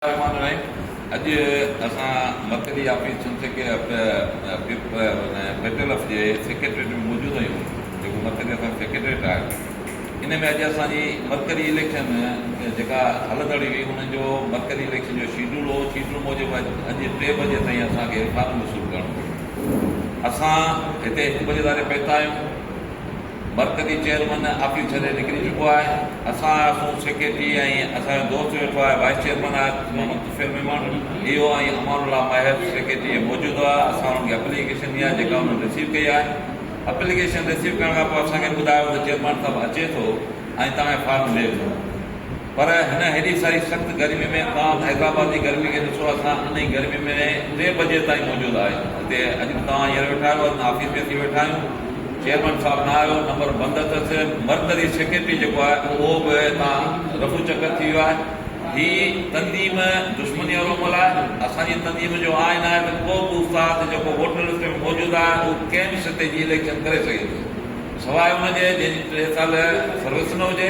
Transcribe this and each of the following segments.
الرحمان الرحيم اڄ اسان مرڪزي آفيس چنگ سيڪ پيٽل اف جي سيڪريٽريٽ ۾ موجود آهيون جيڪو مرڪزي اسان جو سيڪريٽريٽ آهي ان ۾ اڄ اسان جي مرڪزي اليڪشن جيڪا هلندڙي هئي ان جو مرڪزي اليڪشن جو شيڊول هو شيڊول موجب اڄ ٽي بجي تائين اسان کي فارم وصول ڪرڻو هو اسان هتي هڪ بجي ڌاري پهتا آهيون مرڪزي چيئرمن آفيس ڇڏي نڪري چڪو آهي اسان آهياسون سيڪريٽري ۽ اسان جو دوست ويٺو آهي وائيس چيئرمن آهي محمد طفيل ميمڻ اهو ۽ امان الله ماهر سيڪريٽري ۾ موجود هئا اسان انهن کي اپليڪيشن ڏنيا جيڪا انهن رسيو ڪئي آهي اپليڪيشن رسيو ڪرڻ کان پوء اسان کي ٻڌايو ته چيئرمن صاحب اچي ٿو ۽ توهان کي فارم ملي ويندو. پر هن هيڏي ساري سخت گرمي ۾ عوام حيدرآباد جي گرمي کي ڏسو اسان انهي گرمي ۾ ٽي بجي تائين موجود آهيون هتي اڄ به توهان هينئر ويٺا آهيو اسان آفيس ۾ اچي ويٺا آهيون چيئرمن صاحب نه آيو نمبر بند اٿس مرڪزي سيڪريٽري جيڪو آهي اهو به هتان رفو چڪر ٿي ويو آهي هي تنظيم دشمني وارو عمل آهي اسان جي تنظيم جو آئين آهي ته ڪو به استاد جيڪو ووٽر لسٽ ۾ موجود آهي اهو ڪنهن به سطح جي اليڪشن ڪري سگهي ٿو سواء ان جي جنهن جي ٽي سال سروس نه هجي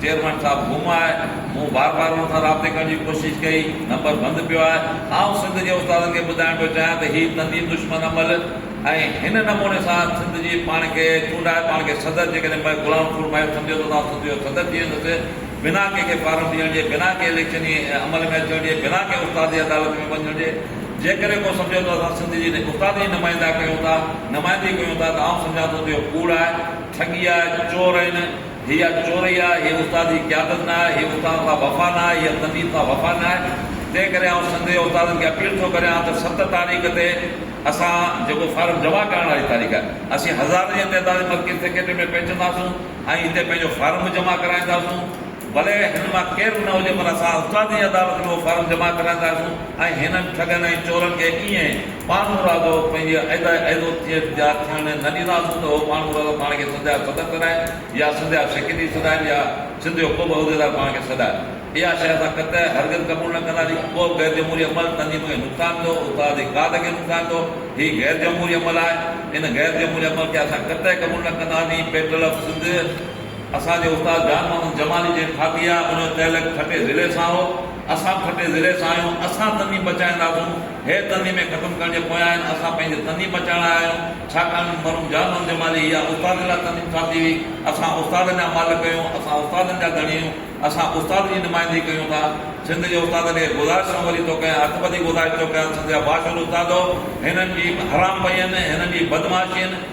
چيئرمين صاحب گم آهي، مون بار بار ان سان رابطي ڪرڻ جي ڪوشش ڪئي، نمبر بند پيو آهي، آئون سنڌ جي استادن کي ٻڌائڻ پيو چاهيان ته هي تنظيم دشمن عمل ۽ هن نموني سان سنڌ جي پاڻ کي چونڊائي پاڻ کي صدر جيڪڏهن مئي غلام رسول مهر سمجهيو ته اسان سنڌ جو صدر ٿي ويندس بنا ڪنهن کي فارم ڏيڻ جي بنا ڪنهن اليڪشني عمل ۾ اچڻ جي بنا ڪنهن استادي عدالت ۾ وڃڻ جي جيڪڏهن ڪو سمجهيو ته اسان سنڌ جي استادن جي نمائندا ڪيون ٿا نمائندي ڪيون ٿا ته آئون سمجهان ٿو ته اهو ڪوڙ آهي ٺڳي آهي چور آهن. هيء چورئي آهي، هيء استاد جي قيادت نه آهي، هيء استاد سان وفا نه آهي، هيء طبيب سان وفا نه آهي، تنهن ڪري آئون سنڌ جي استادن کي اپيل ٿو ڪريان ته ست تاريخ تي اسان جيڪو فارم جمع ڪرائڻ واري تاريخ آهي، اسين هزارن جي تعداد ۾ مرڪزي سيڪريٽريٽ ۾ پهچنداسون ۽ اتي پنهنجو فارم به جمع ڪرائينداسون، ڀلي هن مان ڪير به نه هجي پر اسان استادن جي عدالت ۾ اهو فارم جمع ڪرائينداسون ۽ هنن ٺڳن ۽ چورن کي ايئن پاڻ مرادو پنهنجي ايدا ايدوتيت جا ٿيڻ نه ڏينداسون ته هو پاڻ مرادو پاڻ کي سنڌيا صدر ڪرائين يا سنڌيا سيڪريٽري سڏائين يا سنڌيو ڪو به عهديدار پاڻ کي سڏائي. اها شيء اسان قطعي هرگز قبول نه ڪنداسين. اهو غير جمهوري عمل تنظيم کي نقصان ڏيندو، استاد جي ڪاڌ کي نقصان ڏيندو. هي غير جمهوري عمل آهي. ان غير جمهوري عمل کي اسان قطعي قبول نه ڪنداسين. پيٽل آف سنڌ اسان جي استاد جان محمد جمالي جنهن ٺاهي آهي، ان جو تعلق ٺٽي ضلعي سان هو. اسان به ٺٽي ضلعي سان آهيون. اسان تنظيم بچائينداسون. هيء تنظيمين ختم ڪرڻ جي پويان آهن، اسان پنهنجي تنظيم بچائڻ لاء آيا آهيون، ڇاڪاڻ ته مرحوم جان محمد جمالي اها استادن لاء تنظيم ٺاهتي هئي، اسان استادن جا مالڪ آهيون، اسان استادن جا ڌڻي آهيون، اسان استاد جي نمائندگي ڪيون ٿا، سنڌ جي استادن کي گذارش ڪريان وري توکي ۽ هٿ ٻڌي گذارش ٿو ڪريان سنڌ جا باشعور استادو، هنن جي حرام پئين، هنن جي بدمعاشين،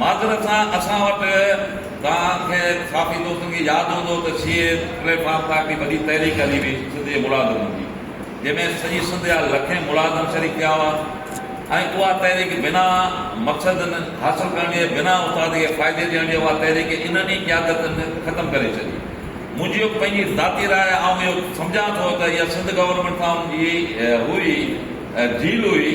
معذرت سان اسان وٽ توهان کي صحافي دوستن کي ياد هوندو ته سي اي پليٽ فارم تان هڪڙي وڏي تحريڪ هلي هئي سنڌ جي ملازمن جي جنهن ۾ سڄي سنڌ جا لکين ملازم شريڪ ٿيا هئا ۽ اها تحريڪ بنا مقصد حاصل ڪرڻ جي بنا اتحاد کي فائدي ڏيڻ جي اها تحريڪ انهن ئي قيادتن ختم ڪري ڇڏي منهنجي پنهنجي ذاتي راء آء اهو سمجهان ٿو ته اها سنڌ گورنمينٽ سان ان جي هئي ڊيل هئي.